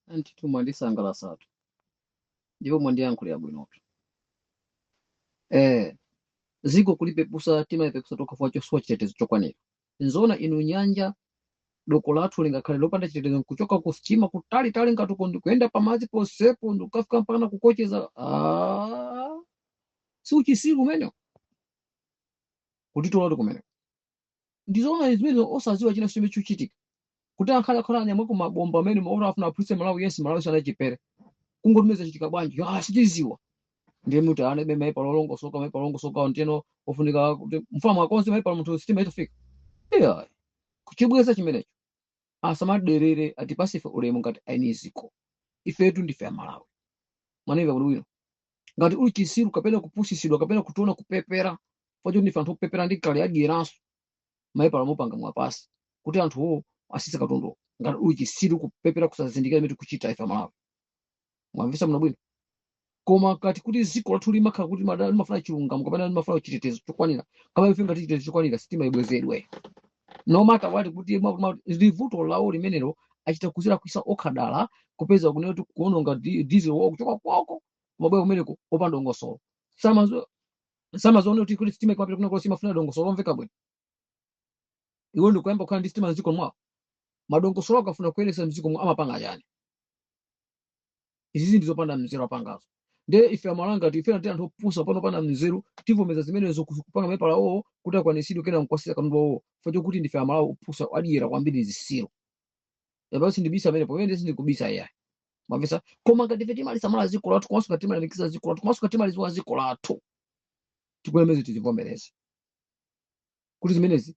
Antitu mwandisangalasatu ndipo mwandiyankhulira bwinotu. Eh, ziko kulipepusa timayipepusa tokha fwa chosowa chitetezo chokwanira. Nzoona inu nyanja doko lathu lingakhale lopanda chitetezo nkuchoka ku sitima kutalitali ngatuko ndikuyenda pamadzi posepo ndikukafika mpakana kukocheza. Ah, si uchisiru umenewo kutitolatu kumene. ndizoona zimene osaziwa china chimene chuchitika kuti akhale akhala anyamuleko mabomba amene maoto afuna aphulitse malawi yense malawi sana chipere kungotumeza chitika bwanji ah sitiziwa ndiye muti alibe mapepala olongosoka mapepala olongosoka nteno ofunika kuti mfuna mwakonze maipa munthu sitima itofika iyayi kuchibweza chimenecho asamaderere atipase ife ulemu ngati aini ziko ifetu ndife amalawi mwanamva kuti bwino ngati uli chisiru kapena kupusisidwa kapena kutiona kupepera fa choti ndife anthu opepera ndi kale adyeraso mapepala mupanga mwapase kuti anthuwo asise katundu ngati uli chisiru kupepera kusazindikira imene tikuchita ife amalawi mwamvesa muno bwino koma ngati kuti dziko lathu limakhala kuti madala limafuna chilungamo kapena limafuna chitetezo chokwanira kama ife ngati chitetezo chokwanira sitima ibwezedwe no matter what kuti mwa- mwa- ndi vuto lawo limenelo achita kuzilakwisa okha dala kupeza kunena kuti kuononga di- diesel wawo kuchoka kwawo kumabwera kumeneko opanda dongosolo Samazo- samaziona kuti kuti sitima ikamapita kunena kuti zimafuna dongosolo lomveka bwino iwo ndikuyamba kukhala ndi sitima mdziko mwawo madongosolo akafuna kuyendesa mdziko mwawo amapanga chani izizi ndi zopanda mzeru apangazo nde ife amalawi ngati ife ndi anthu opusa pena opanda mzeru tivomeza zimenezo ku- kupanga mapepala awo kuti akwanisidwe kena mkwasisira katundu wawo fa chokuti ndife amalawi opusa adyera kwambiri zisiru yaba sindibisa amene pamene sindikubisa iyayi mwamvesa koma ngati ife timalisamala ziko lathu komanso ngati timalemekeza ziko lathu komanso ngati timaliziwa ziko lathu tikulemeze tizivomereze kuti zimenezi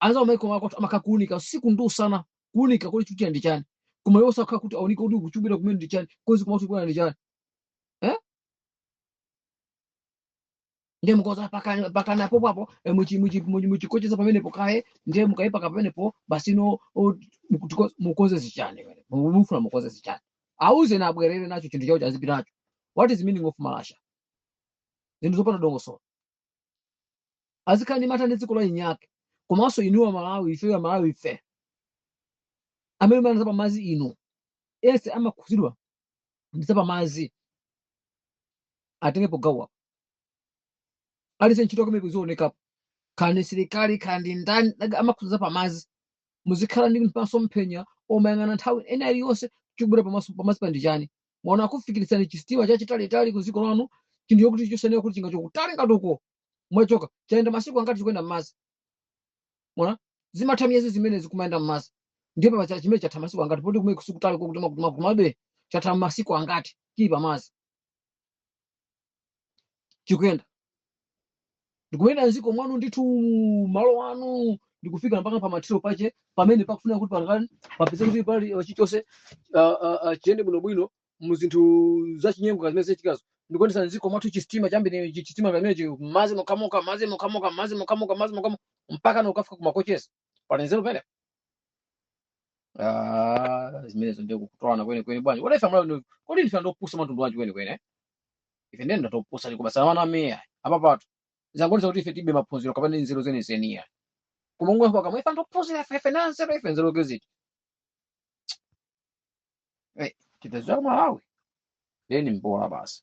anzawo maiko ako amakha kuunika usiku ndi usana kuunika kuli chutira ndi chani koma iwo sakhala kuti aunike kuti chikubwera kumene ndi chani kozi koma kuti kubwera ndi chani eh ndiye mukoza mpakana mpakana apo papo eh, muchi- muchi- muchi- muchikocheza pamenepo kaye ndiye mukaipaka pamenepo basi no o, mukutiko- mukoze zichani wene Mu- mufuna mukoze zichani auzeni abwerere nacho chinthu chawocho azipita nacho what is meaning of malasha zinthu zopanda dongosolo azikhala ndi mantha ndi dziko la eni ake komanso inuyo amalawi ifeyo amalawi ife amene muyang'ana zapamazi inu yense amakhudzidwa ndi zapamazi atengepo gawo apo aliyense ntchito yake imene izionekapo khala ndi msilikali khala ndi ndani amakhudza zapamazi muzikhala ndi maso mphenya omayang'ana nthawi ina iliyonse chikubwera pamazi pamazipa ndi chani mwaona akufikitsirani chisitima chachitalitali ku dziko lanu chinthu chokuti chosanena kuti chingachoke kutali ngati uko mwachoka chayenda masiku angati chikuyenda m'madzi mwaona zimatha miyezi zimenezi kumayenda m'madzi ndipo pacha chimene chatha masiku angati poti kumene sikutali kokuti makomabe chatha masiku angati chili pamadzi chikuyenda ndikuyenda mziko mwanu ndithu malo anu ndikufika mpaka pamathero pache pamene pakufuna kuti pangani papeze kuti pali uh, chilichonse uh, uh, uh, chiyende bwinobwino mu zinthu zachinyengo zimene zikuchitikazo ndikuyendetsa mziko mwathu chistima chambiri chistima pamenechi m'madzi mokhamokha mpaka nkukafika kumakocheza panenzero pene Ah, zimenezo ndiye kutolana kwenikweni bwana. Olo ife mwaona kodi ndife anthu opusa amtundu wanji kwenikweni. ife ndiye ndi anthu opusa tikubetsa Amalawi ayi apapatu zangoonetsa kuti ife tilibe maphunziro kapena nzeru zenizeni ayi koma umwe kwa kamwe ife anthu ophunzira ife ife anthu anzeru ife nzeru chikhala kuti Eh, tidadziwa Amalawi then mbola basi